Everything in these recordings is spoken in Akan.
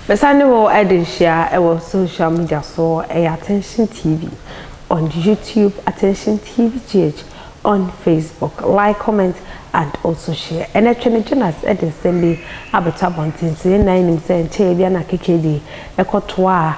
Mesane wo ɛde nhyia ɛwɔ social media so ɛyɛ Attention TV on YouTube, Attention TV GH on Facebook. Like, comment and also share. And ɛtwɛ ne Jonas ɛde nsɛm bi abɛtɔ abɔnten sɛ yɛn nyinaa nim sɛ nkyɛn bi ana keke bi ɛkɔtoa a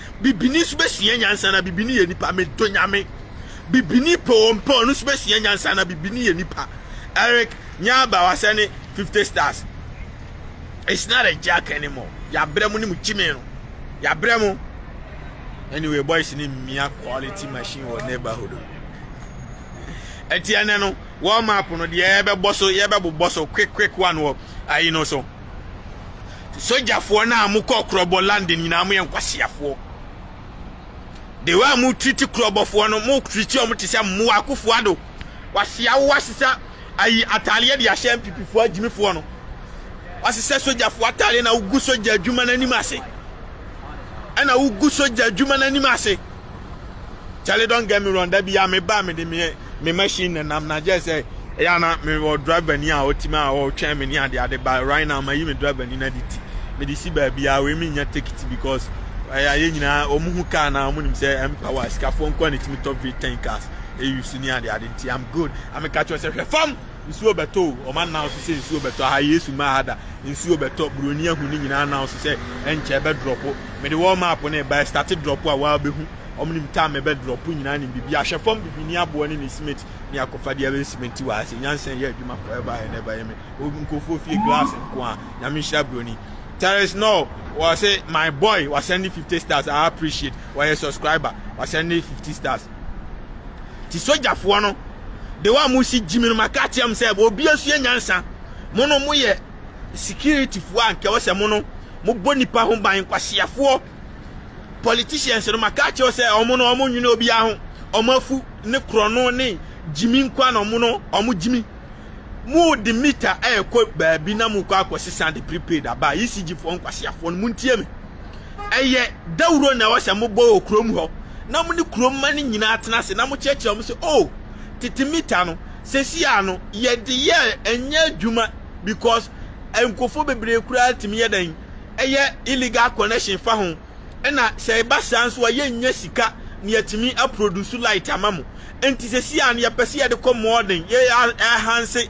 Bibini nso bɛsua nyansa anaa? Bibini yɛ nipa, medɔ Nyame. Bibini pɛ ɔɔ mpɛ ɔɔ no nso bɛsua nyansa anaa? Bibini yɛ nipa. Eric Nyaba wasɛ ne 50 stars. It's not a joke anymore. Yɛabrɛ mo ne mo gyimi no. Yɛabrɛ mo. Anyway, boys ne mmia quality machine wɔ neighborhood no. Ɛti ɛnɛ no, warm up no deɛ yɛbɛbɔ so, yɛbɛbobɔ so quick quick one wɔ ayi no so. Sogyafoɔ no a mo kɔ Krɔbɔ London nyinaa mo yɛ nkwaseafoɔ. The way a mo treat Krɔbɔfoɔ no mo treat wɔn te sɛ mmoa Akufo Addo wasea wo wasesa ayi ataadeɛ de ahyɛ mpipifoɔ agyimifoɔ no wasesa sogyafoɔ ataadeɛ na wogu sogya adwuma no anim ase ɛna wogu sogya adwuma no anim ase. Charlie don't get me wrong da bia me ba me de me me machine na nam na just say ya na me wɔ driver ni a otimi a ɔtwɛn me ne ade ade ba right now ma yi me driver ni na de ti me de si ba bia we me nya take it because ɛyɛ ayɛ nyinaa wɔn ho car na wɔn nim sɛ ɛmpawa sikafoɔ nkoa na etimi tɔ v10 cars eyi su ne ade ade nti i'm good ameka kyerɛ sɛ hwɛ fam. Nsuo bɛtɔ o, wɔn announce sɛ nsuo bɛtɔ, aha Yesu mmaa ha da, nsuo bɛtɔ, buroni ahu ne nyinaa announce sɛ ɛnkyɛ ɛbɛ drop, mede wɔn map no ɛba ɛstate drop a waa bɛhu, wɔn nim time ɛbɛ drop nyinaa nim biribi, ahwɛ fam biribi ne aboɔ ne ne cement ne akɔfa deɛ ɛbɛ cement waa sɛ nyansa ɛyɛ adwuma forever and ever yɛ me, nkurɔfoɔ fie glass nko a, nyame nhyira buroni. There is no wɔ se my boy wa send 50 stars I appreciate wɔyɛ subscriber wa send 50 stars ti sogyafoɔ no de wa mo si gyimi no ma ka kyerɛ mo sɛ obi asua nyansa mo no mo yɛ security foɔ a nkɛwɔ sɛ mo no mo bɔ nipa ho ban nkwaseafoɔ politicians no ma ka kyerɛ sɛ ɔmo no ɔmo nwene obi aho ɔmo afu ne korɔno ne gyimi nkwa na ɔmo no ɔmo gyimi mo de mita ɛɛkɔ baabi na mo kɔ akɔ sesa de prepaid aba ECG foɔ nkwaseafoɔ no mo ntie me Ɛyɛ dawuro na ɛwɔ sɛ mobɔ wɔ kurom hɔ, na mo ne kurom mma no nyinaa tena ase, na mokyerɛkyerɛ wɔn sɛ, Oh, tete mita no, seesei a no, yɛde yɛ ɛnyɛ adwuma because nkurɔfoɔ bebree koraa tumi yɛ dɛn? Ɛyɛ illegal connection fa ho, ɛna sɛ ɛba saa nso a yɛnnya sika na yɛatumi a produce light ama mo. Enti seesei a no, yɛpɛ sɛ yɛde kɔ mɔɔden, yɛ enhance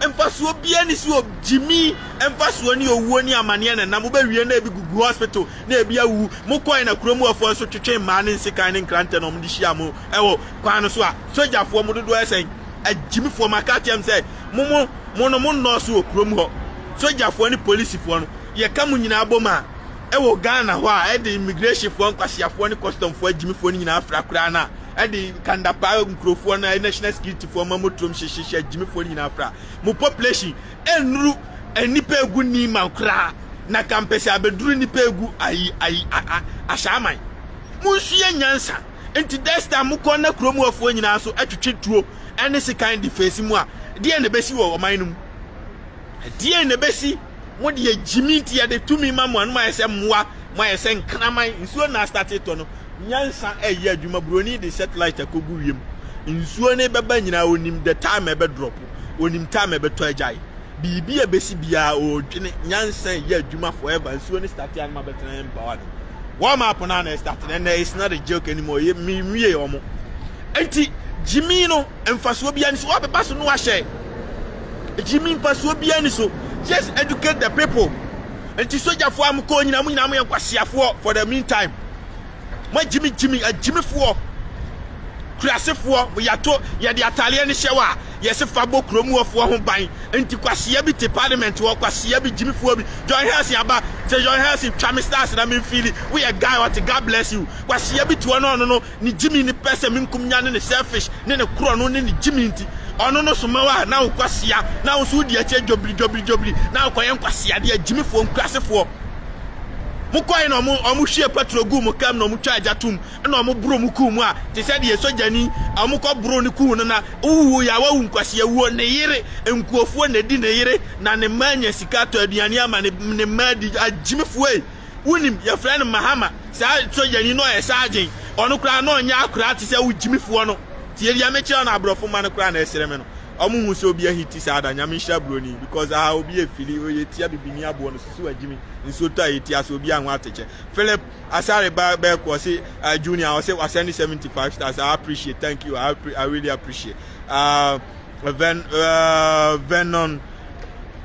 Mfasoɔ biaa ni sɛ ogyimi mfasoɔ ne owuo ne amaneɛ na ɛnam wobɛwie na ebi gugu hospital na ebi awu mo kɔɛ na kuro muafoɔ nso twetwee mmaa ne nsekan ne nkrantɛ na wɔde hyiaa mo wɔ kwan no so a sogyafoɔ mo dodoɔ yɛ sɛn agyimifoɔ mo aka akyerɛ me sɛ mo mo mo no mo nnɔɔso wɔ kuro mu hɔ sogyafoɔ ne polisifoɔ no yɛka mo nyinaa bom a Ɛwɔ Ghana hɔ a ɛde immigrehyinfoɔ, nkwaseafoɔ ne kɔstɔmfoɔ agyimifoɔ no nyinaa fra koraa na ɛde Kandapa nkurofoɔ no a national securityfoɔ ma motorom hyehyehyɛ agyimifoɔ no nyinaa fra. Mo population ɛnnuru nnipa egu Niman koraa na kampɛsɛ abɛduru nnipa egu ayi ayi a a Ashaaman. Monsua nyansa. Nti this time mokɔ na kurom hɔfoɔ nyinaa nso ɛtwetwe tuo ɛne sekan de face mo a deɛn na ɛbɛsi wɔ ɔman no mu? Deɛn na ɛbɛsi? Mo deɛ gyimi nti yɛde tumi ma mo a no moayɛ sɛ mmoa, moayɛ sɛ nkraman. Nsuo na astate tɔ no, nyansa ɛyɛ adwuma. Buroni de satellite akɔgu wiem. Nsuo no bɛba nyinaa ɔnim the time ɛbɛ drop, ɔnim time ɛbɛtɔ agyae. Biribi a ɛbɛsi biara ɔredwene, nyansa ɛyɛ adwuma forever. Nsuo no starte a no mabɛtena yɛn mpawa no. Wɔn map no a na ɛstarte no ɛnɛ it's not a joke anymore, menwie wɔn. Nti gyimi no. mfasoɔ biara nni so wabeba so na wahyɛ gyimi mfasoɔ biara nni so just educate the people nti sogyafoɔ a mokɔɔ nyinaa mo nyinaa moyɛ nkwaseafoɔ for the meantime moagyimi gyimi agyimifoɔ kurasefoɔ yɛato yɛde ataleɛ no hyɛ wɔ a yɛse fa bɔ kurom wɔfoɔ ho ban nti kwasea bi te parliament hɔ kwasea bi gyimifoɔ bi John Helson aba sɛ John Helson twa me stars na memfili woyɛ guy ɔte God bless you kwasea bi te hɔ no ɔno no Ne gyimi ne pɛ sɛ menkum nya ne ne selfish ne ne korɔno ne ne gyimi nti ɔno no soma wo a na wo kɔ sea na wo nso wodi akyire dwobiri dwobiri dwobiri na wo kɔ yɛ nkwaseadeɛ agyimifoɔ nkurasefoɔ mo kɔe na ɔmo ɔmo hwie patro guu mo kam na ɔmo twa agya tum na ɔmo boro mo kuu mu a te sɛ deɛ sogyani ɔmo kɔ boro ne kuu no na wowu ya wawu nkwaseawuo ne yere nkuofoɔ na edi ne yere na ne mma anya sika atɔ aduane ama ne ne mma adi agyimifoɔ ei Wonim, yɛfrɛ no Mahama, saa sogyani no, ɔyɛ sergeant, ɔno koraa na ɔnyɛ akoraa te sɛ wo Gyimifoɔ no, tie deɛ mekyerɛ no, aborɔfo mma no koraa na ɛsere me no, ɔmo nhu sɛ obi ahiti saa da, Nyame nhyira buroni, because ahaa obi ɛfili, ɔyɛ tia bibini aboɔ no, susu agyimi, nsuo tɔ a yɛti ase, obiara ho atekyɛ, Philip Asare ba bɛɛko, ɔse ah Junior, ɔse wa sɛne 75 stars, ah appreciate, thank you, ah I really appreciate, ah Ven, ah Vernon,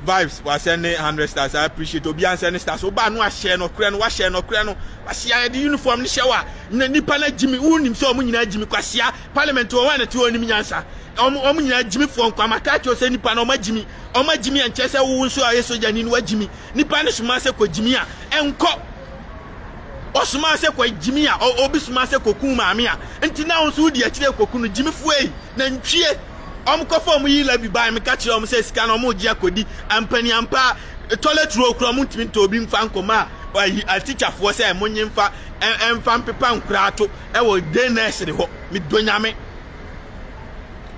Vibes wasɛ ne hundred stars I appreciate obiara nsɛ ne stars wobaa no ahyɛ nɔkorɛ no wahyɛ nɔkorɛ no kwasia yɛde uniform no hyɛ wa na nipa no agyimi wonim sɛ ɔmo nyinaa agyimi kwasia parliament wɔn a nɛte ɔnim nyansa ɔmo ɔmo nyinaa agyimi foɔ nkwa ma kaa kyerɛ sɛ nipa no ɔmo agyimi ɔmo agyimi ɛnkyɛ sɛ wo nso ayɛ sogyani no wagyimi nipa no soma sɛ kɔ gyimi a ɛnkɔ ɔsoma sɛ kɔ gyimi a obi soma sɛ kɔ kun maame a nti na wo nso wodi akyire kɔ kunu gyimi foɔ yi na ntwie wɔkɔfa wɔn yila bi bae meka kyerɛ wɔn sɛ sika no wɔregye akɔdi ampaniampa toilet roll koraa wɔntumi ntɔ obi mfa nkɔma ayi atikyafoɔ sɛ monye mfa mfa mpepa nkoraa to wɔ day nursery hɔ medɔ nyame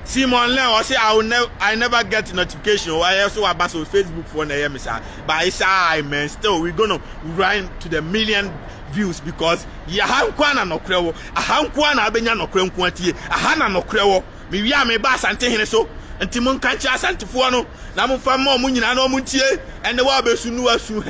Simon Len ɔse I, will never, I never get notification o ɛyɛ so waba so Facebook foɔ na ɛyɛ me saa but it's I man still we gonna run to the million views because yɛha nkoa na nɔkorɛ wɔ aha nkoa na abɛnya nɔkorɛ nkoa tie aha na nɔkorɛ wɔ Mewie a meba Asantehene so, nti monka nkyerɛ Asantefoɔ no na momfa mma wɔn nyinaa na wɔntie ɛnne wa a ɔbɛsu no asu.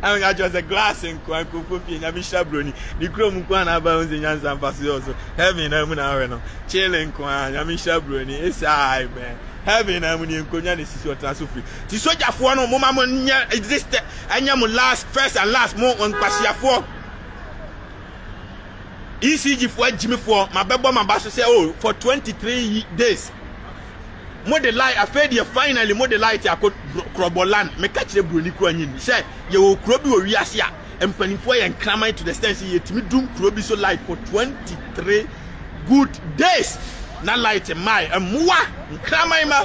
Na meka kyerɛ wɔn sɛ, Glass nko ara, nkurɔfoɔ pii, Nyame hyira broni, ne kurom nko ara na aba ahu sɛ nyansa mfasoɔ wɔ so, heaven naa mu na ahwɛ no, chilling nko ara, Nyame hyira broni, it's I, man, heaven naa mu nie, nkonnwa na ɛsi so, ɔtena so free. Nti sogyafoɔ no, momma mo nyɛ exist, ɛnyɛ mo last, first and last, mo nkwasiafoɔ. ECG foɔ agyimi foɔ ma bɛbɔ ma ba so sɛ oh for 23 days mo de light afei deɛ finally mo de light akɔ korɔbɔ land meka kyerɛ buroni kura nyi ni sɛ yɛwɔ kuro bi wɔ wiase a mpanimfoɔ yɛ nkraman to the stand sɛ yɛtumi dum kuro bi so light for 23 good days na light mmae mmoa nkraman ma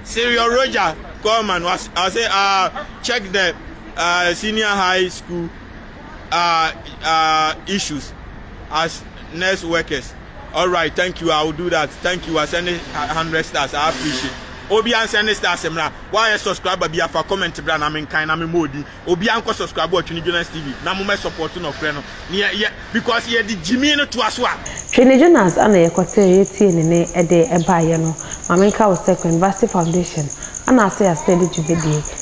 Serial Roger Coleman was, I say uh, check the uh, senior high school uh, uh, issues as nurse workers. All right, thank you. I will do that. Thank you. I send it hundred stars. I appreciate. Obi an send it stars mra. Why a subscriber bi afa comment bra na men kind na me modi. Obi an ko subscribe wa Twini Jonas TV. Na mo me support no kre no. Yeah, yeah, because yeah the Jimmy no to us wa. Twini Jonas ana ye kote ye tie ne ne ede eba ye no. Ma men ka wo se Queen Vasti Foundation ana ase ase de dwumadie.